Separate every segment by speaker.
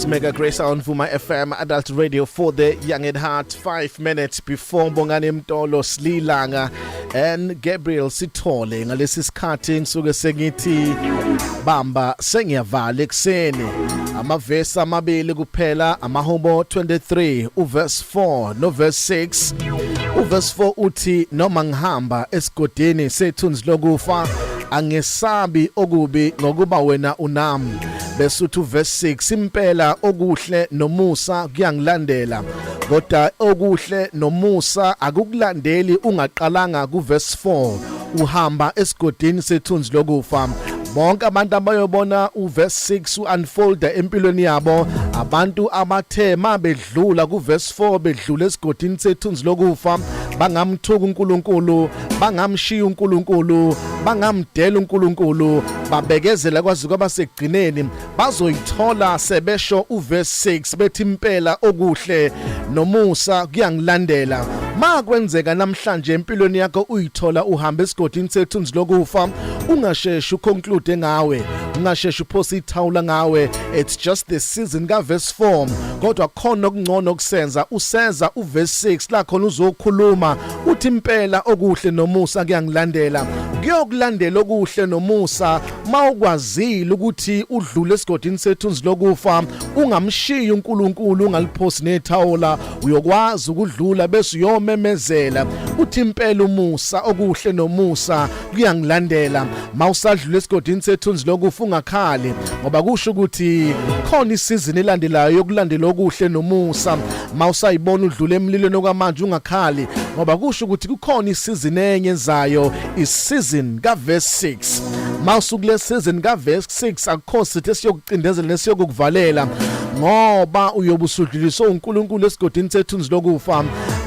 Speaker 1: Mega Grace on Vuma FM Adult Radio for the Young at Heart 5 minutes before Bongani Mtolo Slilanga and Gabriel Sithole ngalesi sikhathi ngisuke sengithi bamba sengiyavala ekseni amavesi amabili kuphela amahubo 23 uverse 4 no verse 6 uverse 4 uthi noma ngihamba esigodini sethunzi lokufa angesabi okubi ngokuba wena unami bese uthi uverse 6 impela okuhle nomusa kuyangilandela kodwa okuhle nomusa akukulandeli ungaqalanga kuverse 4 uhamba esigodini sethunzi lokufa bonke abantu abayobona uverse 6 uunfolder empilweni yabo abantu abathe mabedla dlula kuverse 4 bedlula esigodini sethunzi lokufa bangamthuka uNkulunkulu bangamshiya uNkulunkulu bangamdela uNkulunkulu babekezela kwazi kwaba sekugcineni bazoyithola sebesho uverse 6 bethi impela okuhle nomusa kuyangilandela ma kwenzeka namhlanje empilweni yakho uyithola uhamba esigodini sethunzi lokufa ungasheshi uconclude ngawe ungasheshi uphose ithawula ngawe it's just the season ka verse 4 kodwa khona okungcono okusenza useza uverse 6 la khona uzokhuluma uthi impela okuhle nomusa kuyangilandela kuyokulandela okuhle nomusa mawukwazile ukuthi udlule esigodini sethunzi lokufa ungamshiyi uNkulunkulu ungaliphosi nethawula uyokwazi ukudlula bese uyomemezela uthi impela umusa okuhle nomusa kuyangilandela mawusadlula esigodini sethunzi lokufa ungakhali ngoba kusho ukuthi khona isizini elandelayo yokulandela okuhle nomusa mawusayibona udlule emlilweni okwamanje ungakhali ngoba kusho ukuthi kukhona isizini enye ezayo isizini kaverse 6 mawusuku lesizini kaverse 6 akukho sithi esiyoku cindezela nesiyokukuvalela ngoba uyobe usudluliswe uNkulunkulu esigodini sethunzi lokufa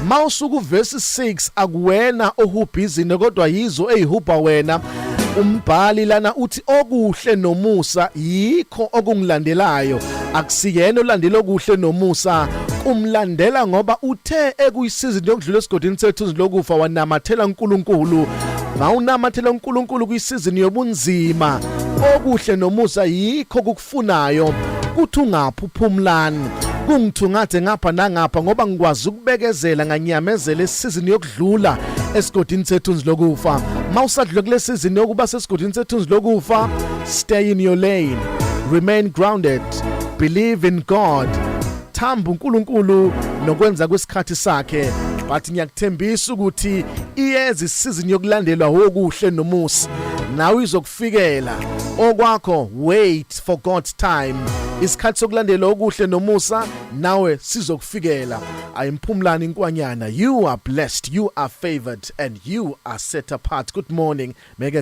Speaker 1: mawusuka uverse 6 akuwena ohubhizini kodwa yizo ezihubha wena umbhali lana uthi okuhle nomusa yikho okungilandelayo akusiyena olandela okuhle nomusa umlandela ngoba uthe ekuyisizini yokudlula esigodini sethu lokufa wanamathela uNkulunkulu mawunamathela uNkulunkulu kwisizini yobunzima okuhle nomusa yikho kukufunayo kuthi ungaphi uphumlani kungithungathe ngapha nangapha ngoba ngikwazi ukubekezela nganyamezela esizini yokudlula esigodini sethunzi lokufa mawusadlule kule sizini yokuba sesigodini sethunzi lokufa stay in your lane remain grounded believe in god Thamba uNkulunkulu nokwenza kwesikhathi sakhe but ngiyakuthembisa ukuthi iyeza isizini yokulandelwa wokuhle nomusa nawe izokufikela okwakho wait for God's time isikhathi sokulandela okuhle nomusa nawe sizokufikela ayimphumlani inkwanyana you are blessed you are favored and you are set apart good morning mega